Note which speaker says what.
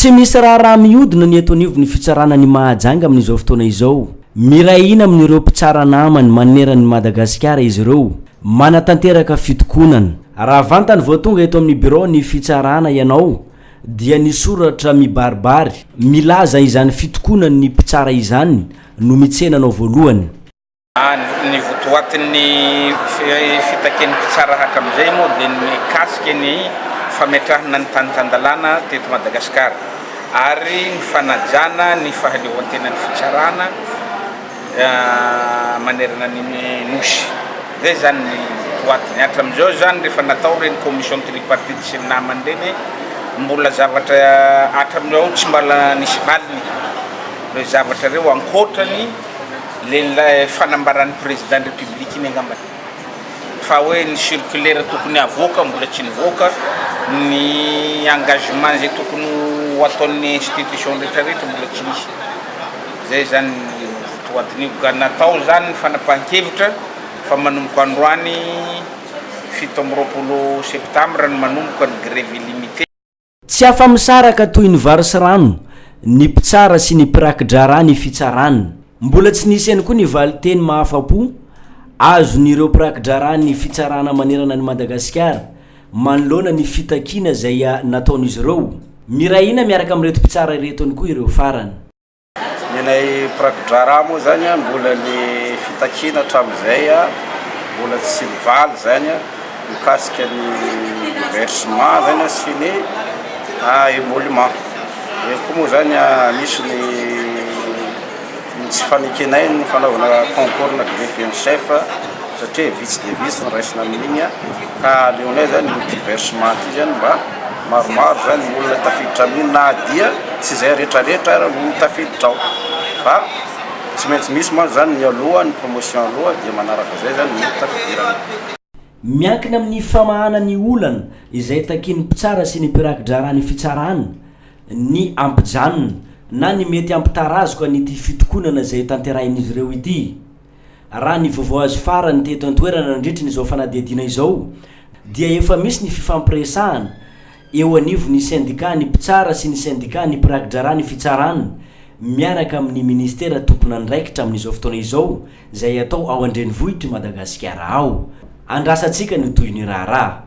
Speaker 1: Tsy misy raharaha mihodina ny eto anivon'ny fitsarana ny Mahajanga amin'izao fotoana izao. Miray hina amin'ireo mpitsara namany maneran'i Madagasikara izy ireo. Manatanteraka fitokonana. Raha vantany vao tonga eto amin'ny biraon'ny fitsarana ianao dia ny soratra mibaribary milaza izany fitokonan'ny mpitsara izany no mitsena anao voalohany.
Speaker 2: Ny votoatin'ny fitakian'ny mpitsara hatramin'izay moa dia ny mikasika ny fametrahana ny tany tan-dalàna teto Madagasikara ary ny fanajana ny fahaleovan-tenan'ny fitsarana manerana ny Nosy. Izay izany ny votoatiny. Hatramin'izao izany rehefa natao ireny commission tripartite sy ny namany ireny mbola zavatra hatramin'io tsy mbola nisy valiny ireo zavatra ireo ankoatra ny Le ilay fanambaran'ny président ny république iny angamba fa hoe ny circulaire tokony havoaka mbola tsy nivoaka, ny engagement izay tokony ho ataon'ny institution rehetra rehetra mbola tsy nisy, zay zany ny votoatin'io ka natao zany ny fanapahan-kevitra fa manomboka androany fito amby roapolo septembre no manomboka ny grève illimité. Tsy
Speaker 1: afa-misaraka toy ny vary sy rano ny mpitsara sy ny mpiraki-draharaha ny fitsarana. Mbola tsy nisy ihany koa ny valin-teny mahafa-po azon'ireo mpiraki-draharaha ny fitsarana manerana an'i Madagasikara manoloana ny fitakiana izay nataon'izy ireo. Miray hina miaraka amin'ireto mpitsara ireto ihany koa ireo farany. Ny anay
Speaker 3: mpirakidraharaha moa izany an, mbola ny fitakiana hatramin'izay an, mbola tsy mivaly izany an, mikasika ny versement izany an sy ny emolument. Eo koa moa izany an, misy ny ny tsy fanekenay ny fanaovana concours na greffe en chef satria vitsy dia vitsy ny raisina amin'iny an, ka aleonay izany ity versement ity izany mba. Maromaro izany ny olona tafiditra amin'io na dia tsy izay retraretra ary no tafiditra ao fa tsy maintsy misy mantsy izany ny aloha, ny promotion aloha dia manaraka izay izany ny tafidirana. Miankina
Speaker 1: amin'ny famahana ny olana izay takian'ny mpitsara sy ny mpiraki-draharaha ny fitsarana ny hampijanona na ny mety hampitarazoka an'ity fitokonana izay tanterahin'izy ireo ity. Raha ny vaovao azo farany teto an-toerana nandritra ny izao fanadihadiana izao dia efa misy ny fifampiresahana eo anivon'ny sendika ny mpitsara sy ny sendika ny mpiraki-draharaha ny fitsarana miaraka amin'ny ministera tompon'andraikitra amin'izao fotoana izao izay atao ao an-drenivohitr'i Madagasikara ao. Andrasantsika ny tohin'ny raharaha.